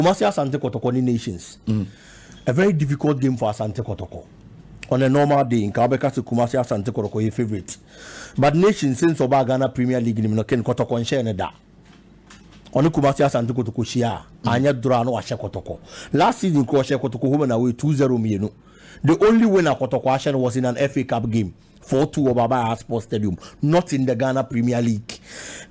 Kumasi Asante Kɔtɔkɔ ne Nations. A very difficult game for Asante Kɔtɔkɔ. On a normal day, nka wobɛka sɛ Kumasi Asante Kɔtɔkɔ yɛ favourite. But Nations since ɔbaa Ghana Premier League no mu no, Ken Kɔtɔkɔ nhyɛɛ no da. Ɔne Kumasi Asante Kɔtɔkɔ hyia a, anyɛ dorɔ a na wahyɛ Kɔtɔkɔ. Last season koraa ɔhyɛɛ Kɔtɔkɔ home and away two zero mmienu. The only win a Kɔtɔkɔ ahyɛ no was in an FA Cup game. Four two wɔ Baba Yahaya Sports Stadium, not in the Ghana Premier League.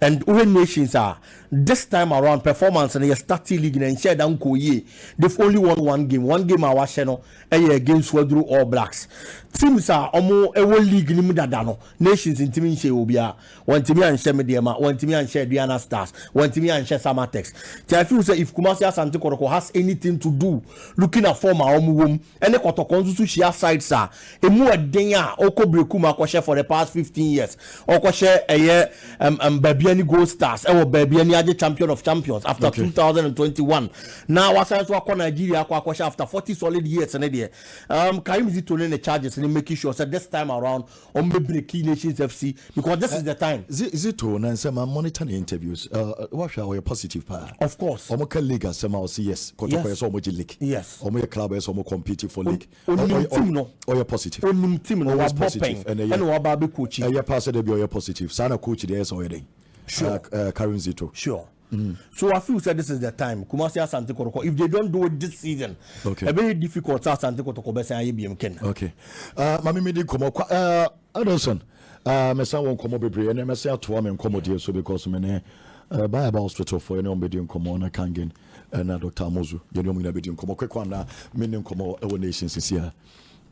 And wohwɛ Nations a, this time around performance no yɛ starting league na nhyɛ da nkɔɔ yie. They've only won one game. One game a wahyɛ no ɛyɛ against Waduro All Blacks. Teams a wɔn ɛwɔ league no mu dada no, Nations ntumi nhyɛ obiara. Wɔntumi anhyɛ Medeama, wɔntumi anhyɛ Aduana Stars, wɔntumi anhyɛ Samatex. Nti I feel sɛ if Kumasi Asante Kɔtɔkɔ has anything to do looking at form a wɔn wɔ mu, ɛne kɔtɔkɔ nso so hyia sites a ɛmu ɛden a ɔkɔ Berekum akɔhyɛ for the past fifteen years ɔkɔhyɛ ɛyɛ ɛm ɛm baabi ɛne Gold Stars ɛwɔ baabi ɛne agye champion of champions after Okay. two thousand and twenty one na wasan so akɔ Nigeria akɔ akɔhyɛ after forty solid years ne deɛ um, Karim Zito ne ne charges ne making sure sɛ this time around Ɔmo bɛ breaki nations FC because this is the time. Zito na nsɛm ma monitor ne interviews na wahwɛ a ɔyɛ positive paa. Of course. Ɔmo ka league asɛm a ɔsi yes kɔtɔkɔ yɛ sɛ ɔmo gye league. Yes. Ɔmo yɛ club yɛ sɛ ɔmo compete for league. Onim team no. Ɔyɛ positive. Onim team no wabɔ pɛn ɛna waba abɛ coachi. Ɛyɛ paa sɛ dabi ɔyɛ positive saa na coach deɛ yɛ sɛ ɔyɛ dɛn. Sure. Karim Zito. Sure. So wa feel sɛ this is the time Kumasi Asante Kɔtɔkɔ if they don't do it this season ɛbɛyɛ difficult sɛ Asante Kɔtɔkɔ bɛsan ayɛ biam ken. Okay uh, maame mi di nkɔmɔ kwa uh, Adelson uh, mɛsan wɔ nkɔmɔ bebree ɛnɛ mɛsan atoa me nkɔmɔdie so because me ne uh, Bible hospital fo ɛne wɔn bɛdi nkɔmɔ na Kangen ɛna Dr. Amozu yɛne wɔn nyinaa bɛdi nkɔmɔ kwekɔ anaa me ne nkɔmɔ ɛwɔ nation sisi a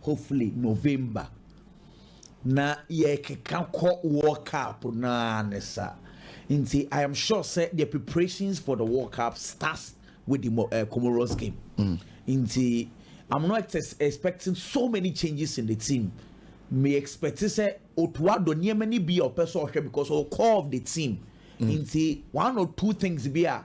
hopefully November na yɛrekeka kɔ World Cup no ara ne sa nti I am sure sɛ the preparations for the World Cup starts with the uh, Comoros game mm. nti I'm not expecting so many changes in the team me expect sɛ Otuado nneɛma ni bi a ɔpɛ sɛ ɔhwɛ because ɔwɔ core of the team mm. nti one or two things bi a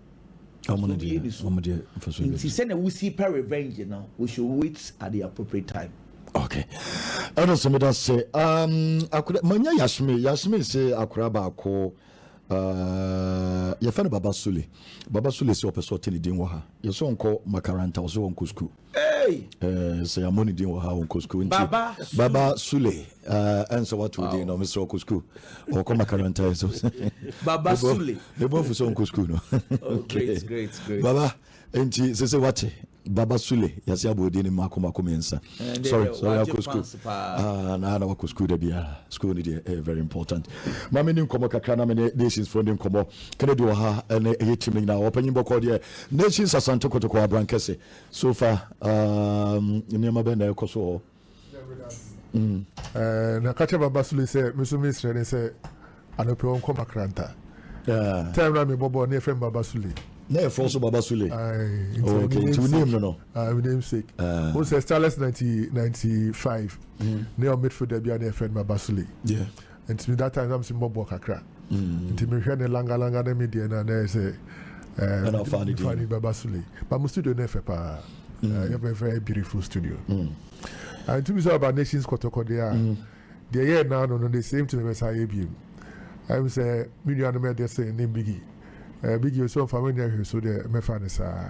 nti sɛnea wosi pɛ revenge no we should wait at the appropriate time okay ɛna sɛ meda sɛ um, akora manya yasme yasme sɛ akora baako uh, yɛfɛ no baba sule baba sule sɛ ɔpɛ sɛ ɔte ne din wɔ ha yɛsɛ ɔnkɔ makaranta ɔsɛ ɔnkɔ sukuu Hey! Eh, sɛ yɛammɔ ne din wɔ ha wɔ nkɔ sukuu nti baba sule ɛnsɛ woato din no mesrɛ ɔkɔ sukuu ɔkɔ makaranta ɛ so baba sule mebɔ afu sɛ ɔnkɔ sukuu no baba nti sɛ sɛ wate baba sule yɛse abɔ din no mako mako mmiɛnsa sorry sorry akɔ sukuu na na wakɔ sukuu da biaa sukuu no deɛ ɛyɛ very important ma me ne nkɔmmɔ kakra na mene nations foɔ ne nkɔmmɔ kennedy wɔ ha ɛne ɛyɛ tim no nyinaa ɔpanyin bɔkɔɔ deɛ nations asante kotokɔ abrankɛse So far um, nneɛma bɛn na ɛrekɔ so hɔ? Mm. Eh, na ka kyerɛ baba sule sɛ me so mesrɛ ne sɛ anɔpɛ ɔnkɔ makranta yeah. time na mebɔ bɔɔl ne ɛfrɛ me baba sule na ɛfrɛ so baba sule nti wonim no no wonim sek wo sɛ starless 95 ne ɔ midfielder bia ne ɛfrɛ no baba sule Nti that time na mese mɔboɔ kakra nti mehwɛ ne langa langa ne me deɛ no a na ɛyɛ sɛ ɛna ɔfaa ne din no bɛba sule but mo studio no yɛ fɛ paa ɛyɛ very very beautiful studio nti bi sɛ ɔba nations kɔtɔkɔ deɛ a deɛ ɛyɛ naa no no the same thing bɛsa yɛ biem ɛm sɛ me nuanom ɛdeɛ sɛ ne bigi bigi osɛ ɔmfa me nyɛ hwee so deɛ mɛfa ne saa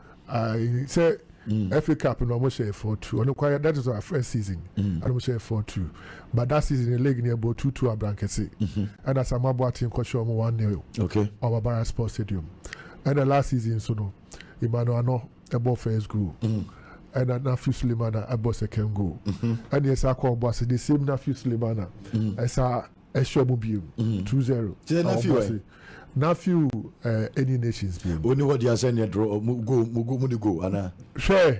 Aye sɛ mm. FA Cup no ɔmo hyɛ four two ɔno kwan that is our first season mm. ɛna ɔmo hyɛ four two but that season the league ni ɛbɔ two two abrankɛse mm-hmm. ɛna Sam Aboakye nkɔhyɛ ɔmo one nil okay ɔmo Barra Sports Stadium ɛna last season so no Emmanuel Ano ɛbɔ first goal. Mm. ɛna nafi sulemana ɛbɔ second goal ɛne ɛsa kɔ ɔbɔ ase the same nafi sulemana ɛsa ɛhyɛ mu biem mm. two zero kyerɛ na fiw ɛ na fiw ɛ eh, any nations biem. o ni hɔ di asɛn ni ɛdoro mu go mu go mu ni go ana. hwɛ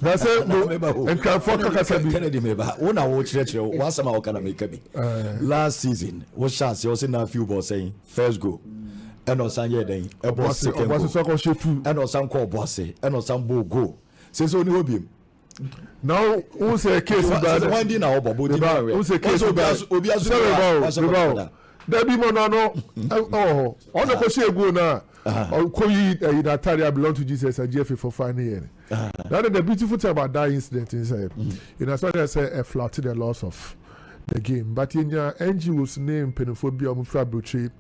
na sɛ mo nkurɔfoɔ kakasa bi. kennedy mi ba wo na wo kyerɛkyerɛ wo asɛm a wɔka na mi ka bi. Eh. last season wo hyɛ ase ɔsi na fiw bɔ sɛn first goal ɛna ɔsan yɛ dɛn ɛbɔ second goal ɛna ɔsan kɔ ɔbɔ ase ɛna ɔsan bɔ goal sɛ sɛ o ni hɔ biem. na wohu sɛ keesi baa dɛ wɔn di na ɔbɔ bɔ di na ɔwɛ wohu sɛ keesi baa obi aso bi wa wɔsɛ kɔkɔda dabi mu ɔno ano ɛwɔ hɔ ɔno kɔ si egu na ɔkɔ yi ɛyi na atare a belong to jesus a gfa for fa ne yɛ na na the beautiful thing about that incident is sɛ in as much as ɛ flat the loss of the game but yɛ nya ngos ne mpanyinfoɔ bi a wɔn fira aburokyire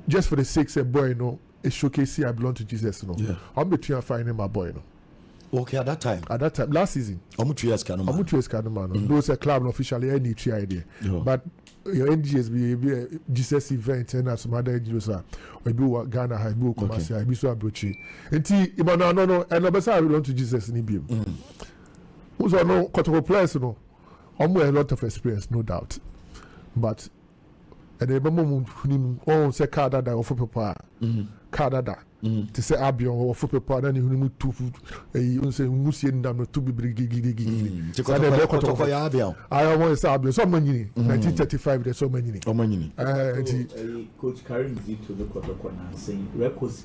just for the sake sɛ boy no. showcase I belong to Jesus no. Yeah. Ɔmo bɛ tua fine ne ma boy no. Okay, at that time. At that time, last season. Ɔmo tua sika no ma. Ɔmo tua sika no ma no. Mm. Though sɛ club no officially ɛni tua yɛ deɛ. But your NGS bi ebi eh, Jesus event ɛna some other NGOs a ebi wɔ Ghana ha ebi wɔ Kumasi ha ebi so aburokyire. Nti ìmọ̀nà àná no ɛna ɔbɛ sá I belong to Jesus ni bi mu. Mm. Wosɔ no kɔtɔkɔ players no ɔmo ɛ lot of experience no doubt but. ɛna ɛbɛma mu huni mu ɔn sɛ kaa dada wɔfo pepa a kaa dada te sɛ abion wɔfo pepa na ne huni mu tu ɛyi ɔn sɛ nwusie nda no to bibiri gigigigigigi saa na ɛbɛyɛ kɔtɔkɔ yɛ abion ayɛ wɔn sɛ abion sɛ ɔma nyini 1935 dɛ sɛ ɔma nyini ɛɛ nti. coach karim zito ne kɔtɔkɔ nansen records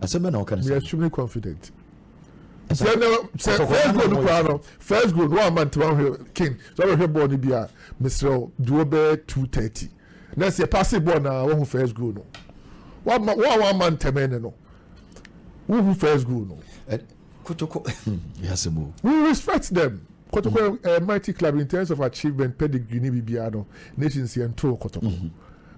asɛm bɛ na ɔka ne sɛ. extremely confident. sɛ na sɛ first goal no koraa no first goal no wɔn ama ntoma hwɛ king sɛ ɔbɛhwɛ bɔɔl no bi a mesrɛw duo bɛyɛ two thirty na sɛ paase bɔɔl na wɔn ho first goal no wɔn a wɔn ama ntɛmɛ ne no wɔn ho first goal no. Kotoko yɛ asɛm o. We respect them Kotoko yɛ mighty club in terms of achievement pedigree ne biribiara no nations yɛn too Kotoko mm -hmm.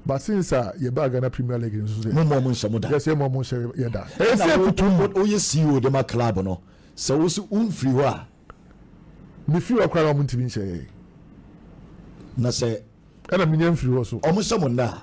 But since a yɛ baa Ghana Premier League nso sɛ. Mo mɔ mo nhyɛ mo da. Yɛ sɛ mɔ mo nhyɛ yɛ da. Ɛyɛ sɛ kutu mu. O yɛ CEO de ma club no sɛ wo so wo nfiri hɔ a. Me firi hɔ koraa na wɔn ntumi nhyɛ yɛ. Na sɛ. Ɛna me nya nfiri hɔ so. Wɔn hyɛ mo nna a.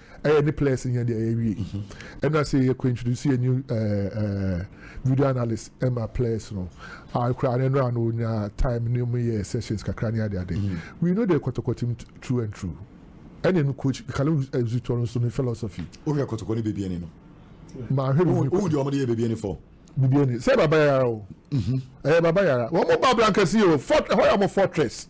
Ɛyɛ ne players nyɛ deɛ yɛwie. Ɛna sɛ yɛ introduce yɛ new eh, eh, video analyst ɛma players no. Ah, kura ne nora no nya time ne mu yɛ sessions kakra ne ade ade. Mm-hmm. We know the kɔtɔkɔtim true and true. Ɛna no coach Kalu Zutɔ no so ne philosophy. O yɛ kɔtɔkɔ ne beebi ɛni no. Maa hwɛ no. O di ɔmo de yɛ beebi ɛni fɔ. Beebi ɛni sɛ baba yara o. Mm-hmm. Ɛyɛ baba yara. Wɔn mo ba blankɛse o. Fort ɛhɔ yɛ ɔmo fortress.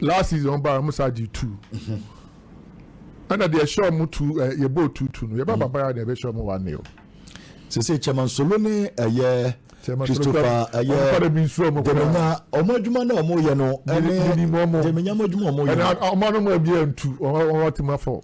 last season wɔn ba wɔn saa gye two ɛna deɛ ɛhyɛ wɔn two ɛ yɛ bɔɔl two two no yɛ ba mm. papa yɛ na ɛbɛ hyɛ wɔn one nil. sese chairman solo ne ɛyɛ christopher ɛyɛ dɛmɛnya wɔn adwuma na wɔn yɛ no ɛne dɛmɛnya wɔn adwuma wɔn yɛ no. ɛna wɔn anam ɛbi yɛ ntu wɔn wɔn ti ma fɔ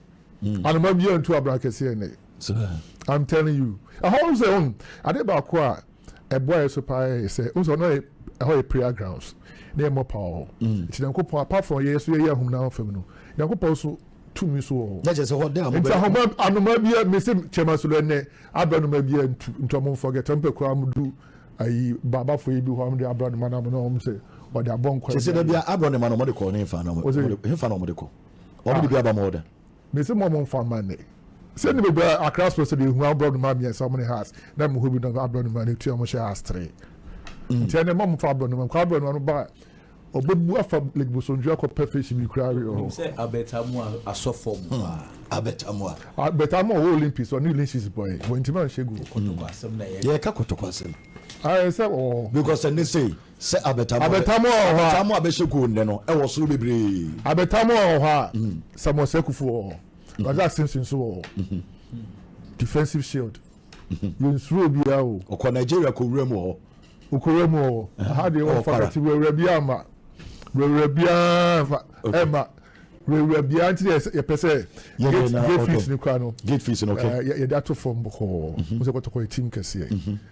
anam ɛbi yɛ ntu abira kɛse yɛ nɛ i'm telling you ɛhɔn sɛ wɔn ade baako a. ɛboaeɛ so paa yɛ sɛ wohu sɛ ɔno yɛ ɛhɔ yɛ prayer grounds na yɛ mmɔ paa wɔ hɔ mm. nti nyankopɔn apart from yɛyɛ so yɛyɛ ahum na fam no nyankopɔn so tumi so wɔ hɔ nti ahoma anoma bia mese kyɛma so lɔ ɛnɛ abra anoma bia ntu nti ɔmo mfɔgɛ tɛm pɛ koraa mo du ayi baabafo yi bi hɔ ɔmo de abra anoma na ɔmo na ɔmo sɛ ɔde abɔ nkwa kyɛ sɛ dɛbi abra anoma na ɔmo de kɔ ne nfa na ɔmo de nfa na ɔmo de kɔ ɔmo de bi aba mo hɔ dɛ Mese mo mo nfa ma ne. Sɛ ne bɛbɛ akra soro sɛ deɛ ehu abrɔ no ma mmiɛnsa ɔmo ne has na mo hɔ bi na abrɔ no ma ne tua ɔmo hyɛ has tere. Mm. Nti ɛnɛ mo mo fa abrɔ no ma kɔ abrɔ no ma no ba ɔbɛ bu afa lake bosontwi akɔ pɛ fish bi kura awi ɔhɔ. Sɛ abɛtamu asɔfo mo pa. Hmm. Abɛtamu a. Abɛtamu ɔwɔ Olympics ɔne Ulysses bɔyɛ wɔn ntoma nhyɛ gu. Kotoko asɛm na yɛ. Yɛ ka kotoko asɛm. Ayɛ sɛ ɔwɔ. Because ɛne sɛ Sɛ abɛtam a Abɛtam wɔ hɔ a. Abɛtam a bɛhyɛ koo nnɛ no, ɛwɔ soro bebree. Abɛtam wɔ hɔ a, Samuel Sekufu wɔ hɔ. Razak Simpson nso wɔ hɔ. Defensive shield. Yɛnsuro obiara o. Ɔkɔ Nigeria kɔwura mu wɔ hɔ. Ɔkɔwura mu wɔ hɔ. Aha deɛ Ɛwɔ wɔfa Kwara. kɛte wurawura biara mma. Wurawura biara mfa Okay. ɛmma. Wurawura biara nti na yɛsɛ- yɛpɛ sɛ Yɛnyɛ gate na gate fees ɔtɔ. no kora no. Gate fees no, okay. eh, yɛ- yɛde ato fam bɔkɔɔ. Wo sɛ kɔtɔkɔ yɛ team kɛseɛ.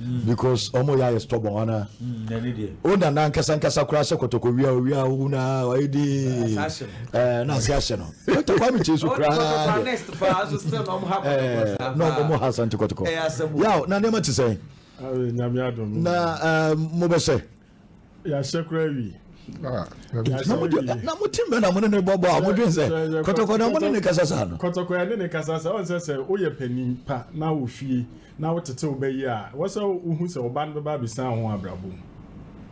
Mm. because ɔmo yɛ ayɛ stubborn ana mm, o nana nkasa nkasa koraa sɛ kɔtɔkɔ wia o wia o na ɔyɛ di ɛɛ na ase ahyɛ no kɔtɔkɔ ami kye so koraa ɛɛ na ɔmo ha asante kɔtɔkɔ yaw na nneɛma ti sɛn na ɛɛ mo bɛ sɛ. yɛahyɛ kora awi ah, na mote mɛ na mo ne ne bɔbɔ a modwen sɛ kɔtɔkɔ na mo ne ne kasa saa no kɔtɔkɔ yɛ ne ne kasa sɛ ɔnsɛ sɛ woyɛ panin pa na wo fie na wotete wo bɛyi a wɔ sɛ wohu sɛ ɔba no bɛba abɛsan ho abrabɔ mu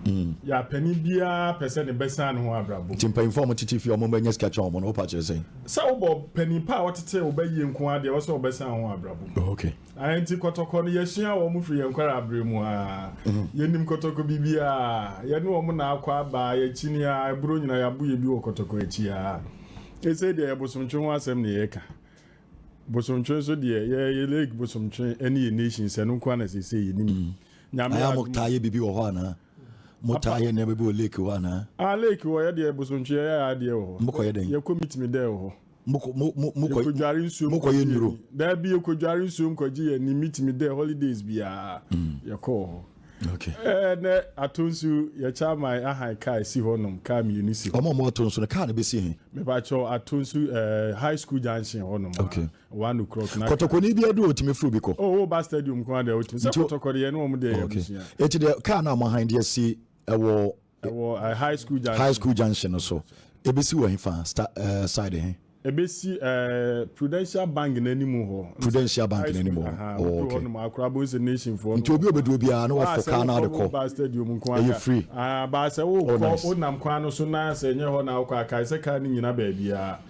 hmm. yɛ panin biara pɛ sɛ ne bɛsan ne ho abrabɔ nti mpanyimfoɔ ɔmo tete fie ɔmo bɛnya sika kyɛn ɔmo no wopa kyerɛ sɛn sɛ wobɔ panin pa a wɔtete wo bɛyie nko adeɛ wɔ sɛ wɔbɛsan ho abrabɔ mu okay Ahe nti kɔtɔkɔ no yɛsua wɔn firi yɛn nkwarabere mu ara. Yɛnim kɔtɔkɔ biribiara. Yɛne wɔn na akɔ aba, yɛkyini ara, ɛboro nyinaa yɛabo yɛ bi wɔ kɔtɔkɔ akyi ara. Ɛsei deɛ yɛ bosomtwe ho asɛm na yɛreka. Bosomtwe nso deɛ yɛ yɛ lake bosomtwe ɛne yɛ nations ɛno nko ara na seesei yɛnim. Nyame Aya adom mo a. taa yɛ biribi wɔ hɔ anaa? Mo taa yɛ nneɛma bi wɔ lake hɔ anaa? Ah lake wɔ yɛ deɛ bosomtwe yɛ yɛ adeɛ wɔ hɔ. Mokɔyɛ dɛn? Yɛkɔ meet me dɛ wɔ hɔ. mokɔdware nsuo mokɔyɛ nnuro daabi yɛkɔdware nsuo nkɔgye yɛ ne metumi dɛ holidays biara mm. yɛkɔɔ hɔ Okay. Eh, ne ato nso yɛkyɛ ama ahan kaa si hɔ nom kaa mmienu si hɔ. ɔmo ɔmo ato nso no kaa no bɛsi he. mepakyɛw ato nso eh, high school junction hɔ nom. okay. one o'clock na. kɔtɔkɔni bi adu otumi firi bi kɔ. o o ba stadium kwan deɛ otumi sɛ kɔtɔkɔ deɛ ne wɔn deɛ yɛ abusua. eti deɛ kaa no a mo ahan deɛ si ɛwɔ. Ɛwɔ eh, High School Junction. High School Junction no so. Ebesi wɔ hefa? Sta eh, side he? Ebesi eh, Prudential Bank n'anim hɔ. Prudential Bank High n'anim School, hɔ. aha, Oh, woduru okay. hɔnom a, Accra Abonse Nation foɔ Nti no obi a wɔ hɔ obedu a. obiara na Baa wɔfɔ sɛ kaa no wokɔ ade kɔ. Woba stadium nko Ɛyɛ ara. free. Ah, baa sɛ Oh, wokɔ, nice. wonam kwan no so na sɛ ɛnyɛ hɔ na wokɔ a, kae sɛ kaa no nnyina baabiara.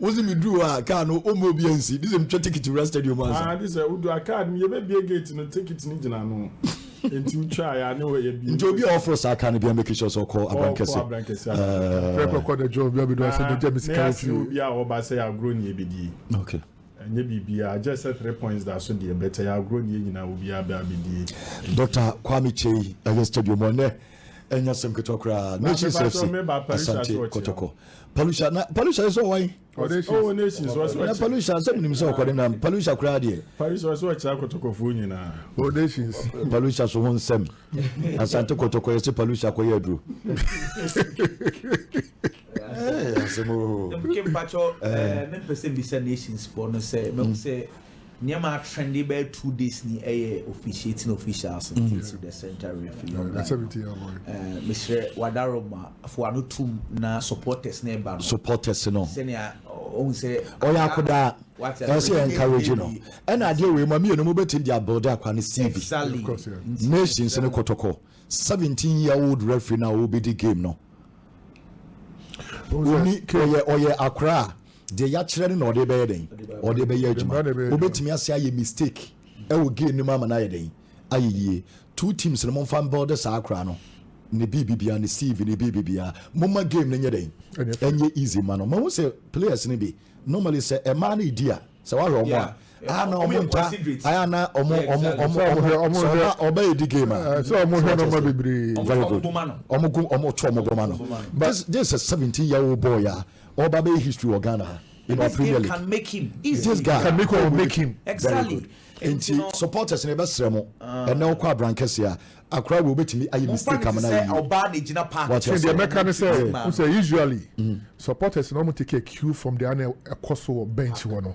wosi mi duru hɔ a kaa no o mo obi ansi de sɛ mi twɛ tikiti wura stadium ansa. Ah de sɛ wodu a kaa no yɛ bɛ bie gate no tikiti no gyina ano nti wotwa ya ne wɔ yɛ bie. Nti obi a ɔforo saa kaa no bia make sure sɛ ɔkɔ abrankɛse. Ɔkɔ abrankɛse abrankɛse. Pere kɔ kɔ na jɔ obi abɛdu asɛ na gya mi sika ofie. Na yɛ asɛ obi a ɔba sɛ yɛ agorɔ ni yɛ bɛ die. Okay. Ɛnyɛ biribiara agye sɛ three points da so deɛ bɛtɛ yɛ agorɔ ni yɛ nyinaa obi abɛ abɛdie. Doctor Kwame Kyei ɛyɛ stadium ɔnɛ ɛnyɛ sɛm ketewa koraa. Nations FC Asante Kɔtɔkɔ palusha na palusha yɛ sɛ ɔwan. ɔwɔ nations ɔsɛ ɔkyɛ. na palusha sɛ mi nim sɛ ɔkɔ ne nam palusha koraa deɛ. palusha ɔsɛ ɔkyɛ akɔtɔkɔfoɔ nyinaa. ɔwɔ nations. palusha so ho nsɛm asante kɔtɔkɔ yɛ sɛ palusha kɔ yɛ aduro. asɛm o. mpatsɔ mɛ mpɛ sɛ mbisa nations foɔ no sɛ mɛ sɛ Nneɛma a trendy bɛyɛ two days ni ɛyɛ officiating officials mm. nti to the center refi yɔn guy ɛɛ mesrɛ wadaro ma fo ano tum na supporters na ɛba no supporters no sɛnea ɔhun sɛ ɔyɛ akodaa ɛsɛ yɛ encourage no ɛna adeɛ wei mu mmienu mu bɛtumi de abuild akwa ne cv nations ne kɔtɔkɔ seventeen year old referee na ɔbɛdi game no oni ɔyɛ ɔyɛ akora a Deɛ yɛakyerɛ no na ɔde bɛyɛ dɛn? Ɔde bɛyɛ adwuma. Wobɛtumi ase ayɛ mistake wɔ game no mu ama no ayɛ dɛn? Ayɛ yie. Two teams no momfa mbuilde saa akora no ne biribibiara, ne CV ne biribibiara. Momma game no nyɛ dɛn? Ɛnyɛ easy mma no. Mahu sɛ players no bi, normally sɛ mmaa no redi a, sɛ woahwɛ wɔn a, ayɛ na wɔn nta, ayɛ na wɔn, wɔn, wɔn, sɛ ɔba, ɔba redi game a, sɛ wɔn hwɛ nɔma bebree. Very good. Wɔn go, wɔn to wɔn go ma no. This, this is a seventeen year old boy a. Ɔba bɛyɛ history wɔ Ghana ha in our premier league. This guy can make or make him. Very good. Nti supporters no yɛbɛsrɛ mo ɛnɛ wokɔ abrankɛseɛ a akora wei wobɛtumi ayɛ mistake ama no ayɛ yie. Wate aseɛ. Deɛ mɛka ne sɛ wo sɛ usually supporters no wɔn take a cue from deɛ ana ɛkɔ so wɔ bench hɔ no.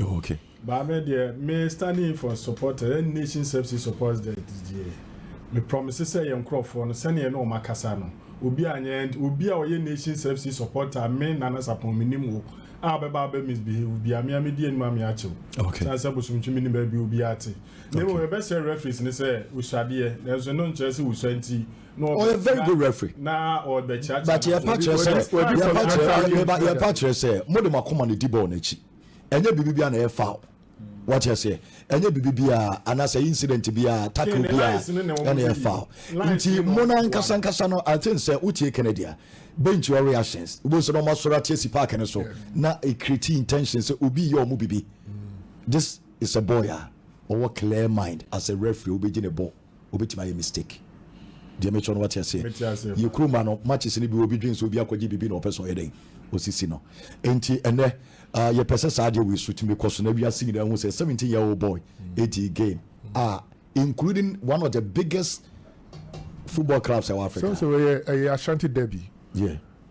Oh, okay. But me deɛ me standing in for supporters ɛne nation services supporters deɛ deɛ me promise sɛ yɛn nkorɔfoɔ no sɛnea ɛne wɔn akasa no obi a nyɛ obi a ɔyɛ nation services supporter me nana sapɔn me nim wo a bɛba abɛ misbehave bi amea me di anim amea akyew Okay. san sɛ bosomtwi me nim baabi obi ate na mmom Okay. yɛbɛsrɛ referees ne sɛ osuadeɛ nanso ɛno nkyerɛ sɛ wosua nti ɔyɛ very good referee but yɛpa kyerɛ sɛ yɛpa kyerɛ yɛpa kyerɛ sɛ mo de mo akoma na di bɔɔl n'akyi ɛnyɛ biribi bi a na yɛ foul wɔte aseɛ ɛnyɛ biribi bi a anaasɛ incident bi a tackle bi a ɛna yɛ foul nti mo na nkasa nkasa no i think sɛ wotie kennedy a bench your reactions wobɛhu sɛ na ɔma soro ate asi park no so na ɛkreti intention sɛ obi yɛ ɔmo biribi this is a boy a ɔwɔ clear mind as a referee wobɛgye ne bɔɔl Obetumi ayɛ mistake. Deɛ mekyerɛ no wate aseɛ? Mete aseɛ paa. Yɛ kuro ma no matches no bi obi dwen sɛ obi akɔgye biribi na ɔpɛ sɛ ɔyɛ dɛn? Osisi no. Enti ɛnɛ ah yɛ pɛ sɛ saa adeɛ wei so tumi kɔ so na wiase nyinaa hu sɛ seventeen year old boy edi game ah including one of the biggest football clubs ɛwɔ Africa. Sɛm sɛ wei yɛ ɛyɛ Ashanti derby. Yeah.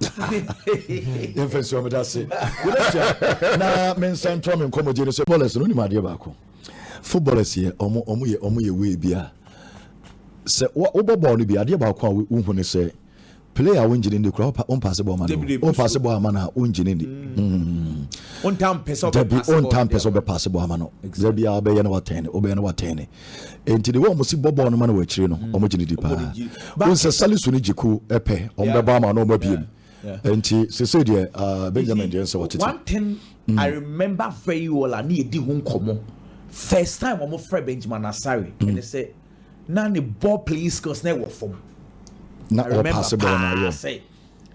yɛmfa nsi ɔmeda ase yɛbɛsua na mensa ntoa me nkɔmmɔgye no sɛ bɔlɛs no wonim adeɛ baako footballers yɛ ɔmo ɔmo yɛ ɔmo yɛ wei bi a sɛ wobɔ bɔɔl no bi adeɛ baako a wohu ne sɛ player a wongyine ndi kora wompaase bɔɔl ma no wompaase bɔɔl ama no a wongyine ndi dabi wontampɛ sɛ wobɛpaase bɔɔl ama no da biaa wobɛyɛ na watɛne wobɛyɛ na watɛne nti de wɔn si bɔ bɔɔl no ma no wɔ akyire no wɔn gye ne di paa wɔn sɛ salisu ne gyeku pɛ wɔn bɛbɔ ama na wɔn abiem nti sese deɛ uh, benjamin deɛ nsɛ wɔtete. one thing mm. i remember very well a ne yɛ di ho nkɔmɔ first time wɔn fɛ benjamin asare mm. ɛne sɛ na ne ball playing skills na ɛwɔ fam. na ɔpaase bɔɔl na yɛ.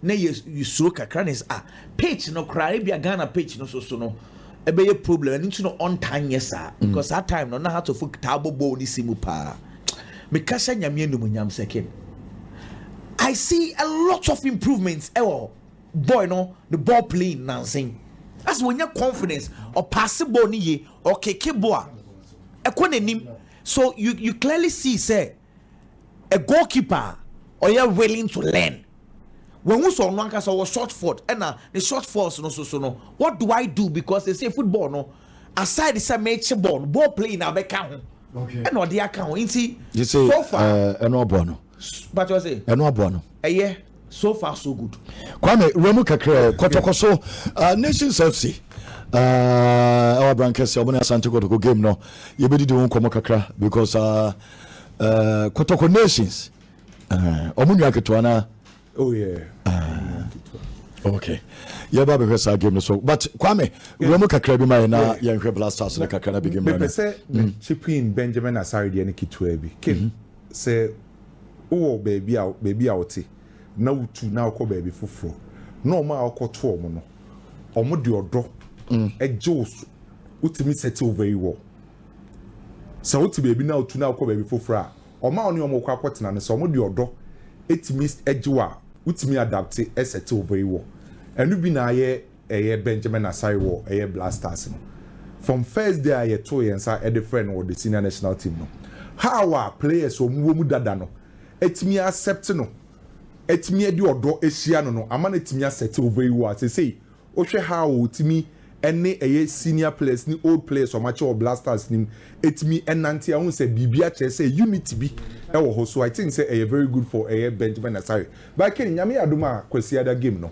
na yɛ suro kakra na yɛ sɛ ah pitch no koraa ebi a Ghana pitch no so so no ɛbɛyɛ problem ɛno nti no ɔntaa nyɛ saa mm. because saa time no na hatofo taa bɔ bɔɔl ne si mu paa mekasa nyame anim nyam sɛkin I see a lot of improvements ɛwɔ eh, boy no the ball playing nansen as wɔnya confidence ɔpaase bɔɔl ne ye ɔkeke bɔɔl a ɛkɔ n'anim so you you clearly see sɛ. a goalkeeper a ɔyɛ willing to learn. Wahu sɛ ɔno ankasa ɔwɔ short fault ɛna ne short faults no so so no what do I do because they say football no aside sɛ meekye ball no ball playing na abɛka ho ɛna ɔde aka ho nti so far ɛno ɔbɔ no ɛno ɔbɔ no ɛyɛ so far so good. kwame wura mu kakra kɔtɔkɔ so uh, nations fc uh, ɛwɔ abrankɛse ɔmo ne asante kɔtɔkɔ game no yɛbɛdidi ho nkɔmmɔ kakra because uh, uh, kɔtɔkɔ nations uh, ɔmo nwa ketewa na oh, yeah. uh, okay yɛba bɛhwɛ saa game no so but kwame wura mu kakra bi ma yɛ na yɛnhwɛ blasters no kakra na bigame mepɛ sɛ chipping benjamin asare deɛ no ketewa bi kim mm-hmm. sɛ wowɔ baabi a baabi a wote na wotu na wokɔ baabi foforɔ na wɔn a wokɔto wɔn no wɔn de ɔdɔ gye wo so wotumi settle very well sɛ wote baabi na wotu na wokɔ baabi foforɔ a wɔn a wɔne wɔn kɔ akɔtena no sɛ wɔn de ɔdɔ tumi gye wo a wotumi adapte settle very well ɛno bi na ayɛ ɛyɛ Benjamin Asare wɔ ɛyɛ Black Stars no. From first day a yɛtoo yɛn nsa de frɛɛ no wɔ the senior national team no, how a players a wɔwɔ mu dada no atumi accept no, atumi de ɔdɔ ahyia no no ama no atumi asɛtew very well. Seesei wohwɛ how a ɔtumi ne ɛyɛ senior players ne old players a wɔakyɛ wɔ Black Stars no mu atumi nante a, wohu sɛ biribi akyerɛ sɛ unity bi wɔ hɔ. So I think sɛ ɛyɛ very good for ɛyɛ Benjamin Asare. But Ken, Nyame yɛ adom a Kwasiada game no,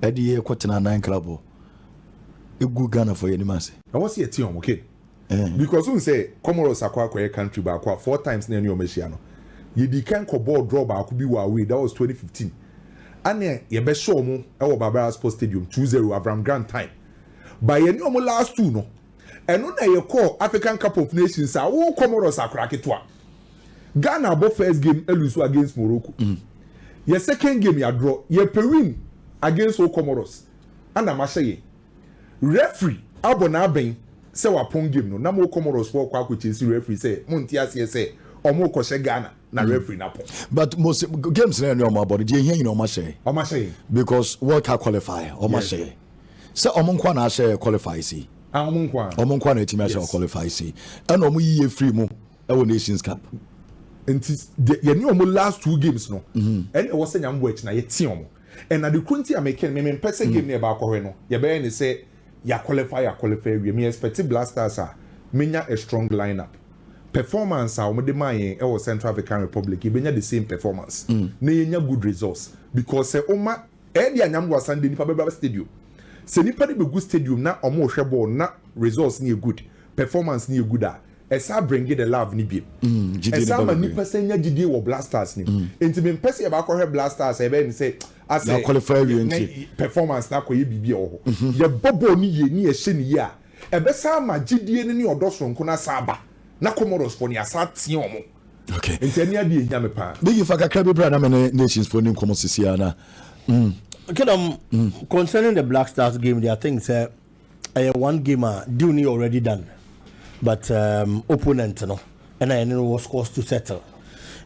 ɛde yɛ kɔ tena nan krabɔ egu ghana fɔ yɛ anim ase. Ɛwɔ sɛ yɛte wɔn okay because wohu sɛ Comoros akɔ akɔyɛ country baako a four times na yɛne wɔn ahyia no yɛdii kan kɔbɔɔ draw baako bi wɔ away that was twenty fifteen ɛna yɛbɛhyɛ wɔn wɔ Barbara Sports Stadium two zero Avram Grant time ba yɛne wɔn last two no ɛno na yɛkɔɔ African Cup of Nations a wo Comoros akora ketewa Ghana abɔ first game alusu against Morocco. Mm. Yɛ second game yɛadorɔ. Yɛpɛ win against O Comoros. Ana mahyɛ yɛn. Referee abɔ n'abɛn sɛ wapɔn game no. Nam O Comoros foɔ kɔ akɔkyesi referee sɛ monte aseɛ sɛ ɔmo kɔhyɛ Ghana na mm. referee no apɔn. But most games na ɛne ɔmo abɔ no deɛ ehia nyina ɔmo ahyɛ yɛn. Ɔmo ahyɛ yɛn. Because World Cup qualifier ɔmo ahyɛ yɛn. Sɛ ɔmo nkoa na ahyɛ qualify si. Ah, ɔmo nkoa. Ɔmo nkoa na etimi ahyɛ qualify si. Ɛna ɔmo yiye free mu. Ɛwɔ Nations Cup nti deɛ yɛne wɔn last two games no mhm. ɛna ɛwɔ sɛ nyame bɔ akyi na yɛte wɔn and ade koro nti a meke no meme mpɛ sɛ mhm. game no yɛba akɔhwɛ no yɛbɛyɛ ne sɛ yɛaqualify yɛaqualify awie me expect blasters a menya a strong lineup performance a wɔde maa yɛn ɛwɔ central african republic yɛbɛnya the same performance mm. na yɛnya good results because sɛ ɔma ɛde anyam wɔ asande nipa bɛba stadium sɛ nipa de bɛgu stadium na wɔn rehwɛ bɔɔl na results no yɛ good performance no yɛ good a Ɛsaa bringe the love no bio. Ɛsaa ma nnipa san nya gyidie wɔ Blasters no mu. Enti mempɛ sɛ yɛba akɔhwɛ Blasters a ɛbɛyɛ ne sɛ asɛ ne performance no akɔyɛ biribi a ɛwɔ hɔ. Yɛbɔ bɔɔl no yie ne yɛhyɛ no yie a, ɛbɛsan ama gyidie no ne ɔdɔ sononko no asan aba na Comorosfoɔ no, yɛasan atea wɔn. Enti ɛne adeɛ a ɛhia me pa ara. Biggie, fa kakra bi bra na me ne Nationsfoɔ nni nkɔmmɔ seesei ara na. Kingdom, concerning the Blackstars game deɛ, I think sɛ ɛyɛ one game a deal no yɛ already done but um, opponent no ɛna yɛne no wɔ scores to settle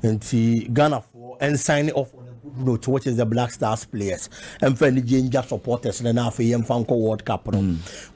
nti ghanafoɔ ɛnsign off on a good note which is the black stars players ɛmfa anigye ngya supporters no na afei yɛmfa nkɔ world cup no mm.